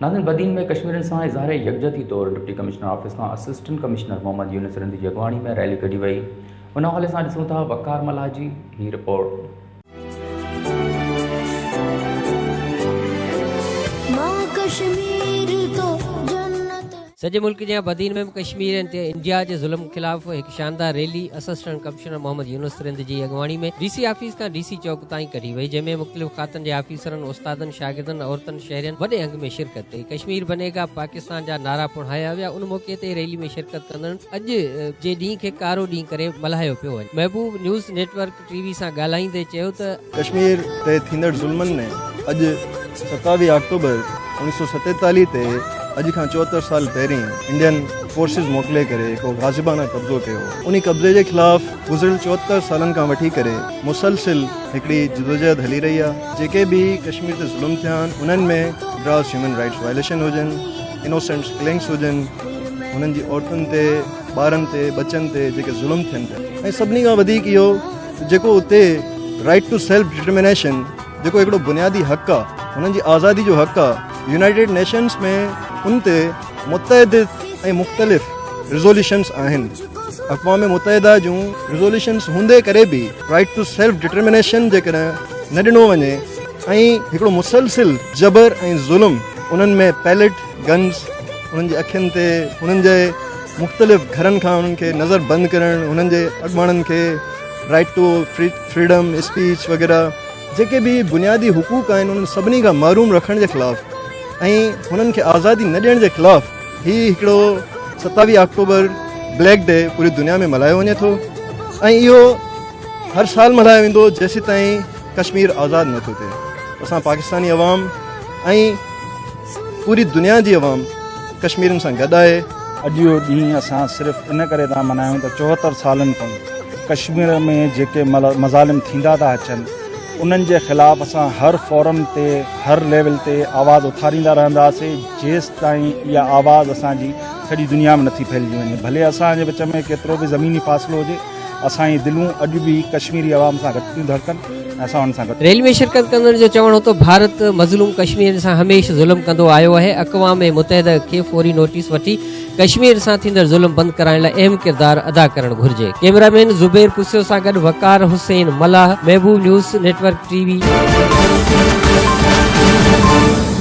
ناظرين بدين ۾ ڪشميرين سان اظهار يڪجهتي طور ڊپٽي ڪمشنر آفيس کان اسسٽنٽ ڪمشنر محمد يونس رند جي اڳواڻي ۾ ريلي ڪڍي وئي ان حوالي سان ڏسون ٿا وقار ملاح جي هي رپورٽ. سڄي ملڪ جيان بدين ۾ به ڪشمير اينٽي انڊيا جي ظلم خلاف هڪ شاندار rally assistant commissioner Muhammad Younis Rind جي اڳواڻي ۾ ڊي سي آفيس کان ڊي سي چوڪ تائين ڪڍي وئي جنهن ۾ مختلف کاتن جي آفيسرن استادن شاگردن عورتن شهرين وڏي انگ ۾ شرڪت ڪئي ڪشمير بنيگا پاڪستان جا نعرا پڻ هايا ويا ان موقعي تي ريلي ۾ شرڪت ڪندڙن اڄ جي ڏينهن کي ڪارو ڏينهن ڪري ملهايو پيو وڃي محبوب نيوز نيٽ ورڪ ٽي وي سان ڳالهائيندي چيو ته. ڪشمير تي ٿيندڙ ظلمن ۾ اڄ ستاويهه آڪٽوبر اوڻيهه سؤ ستيتاليهه تي اڄ کان چوهتر سال پهرين انڊين فورسز موڪلي ڪري هڪ غاصبانه قبضو ڪيو هو انهي قبضي جي خلاف گذريل چوهتر سالن کان وٺي ڪري مسلسل هڪڙي جدوجهد هلي رهي آهي جيڪي به ڪشمير تي ظلم ٿيا آهن انهن ۾ گراس هيومن رائيٽس وائليشن هجن انوسينٽس ڪلنگس هجن انهن جي عورتن تي ٻارن تي ٻچن تي جيڪي ظلم ٿين پيا ۽ سڀني کان وڌيڪ اهو جيڪو اتي رائٽ ٽو سيلف ڊٽرمنيشن جيڪو هڪڙو بنيادي حق آهي هنن جي آزادي جو حق آهي يونائٽيڊ نيشنس ۾ ان تي متعدد ۽ مختلف ريزوليوشنس آهن اقوام متحده جون ريزوليوشنس هوندي ڪري به رائٽ ٽو سيلف ڊٽرمنيشن جيڪڏهن نه ڏنو وڃي ۽ هڪڙو مسلسل جبر ۽ ظلم انهن ۾ پيلٽ گنز انهن جي اکين تي انهن جي مختلف گهرن کان انهن کي نظر بند ڪرڻ انهن جي اڳواڻن کي رائيٽ ٽو فريڊم اسپيچ وغيره جيڪي به بنيادي حقوق آهن انهن سڀني کان محروم رکڻ جي خلاف ۽ انهن کي آزادي نه ڏيڻ جي خلاف هي هڪڙو ستاويهه آڪٽوبر بليڪ ڊي پوري دنيا ۾ ملهايو وڃي ٿو ۽ اهو هر سال ملهايو ويندو جيسي تائين ڪشمير آزاد نه ٿو ٿئي اسان پاڪستاني عوام ۽ پوري دنيا جي عوام ڪشميرين سان گڏ آهي. اڄ اهو ڏينهن اسان صرف ان ڪري ٿا ملهايون ته چوهتر سالن کان ڪشمير ۾ جيڪي مظالم ٿيندا ٿا اچن انهن جي خلاف اسان هر فورم تي هر ليول تي آواز اٿاريندا رهنداسين جيستائين اها آواز اسان جي سڄي دنيا ۾ نٿي ڦهلجي وڃي ڀلي اسان جي وچ ۾ ڪيترو به زميني فاصلو هجي. اسان جي دلون اڄ به ڪشميري عوام سان گڏ ٿيون ڌڙڪن ۽ اسان انهن سان گڏ. ريلي ۾ شرڪت ڪندڙن جو چوڻ هو ته ڀارت مظلوم ڪشميرين سان هميشھ ظلم ڪندو آيو آهي، اقوام متحده کي فوري نوٽيس وٺي ڪشمير سان ٿيندڙ ظلم بند ڪرائڻ لاء اهم ڪردار ادا ڪرڻ گهرجي. ڪيمرا مين زبير پسيو سان گڏ Waqar Hussain Mallah, Mehboob news network ٽي وي.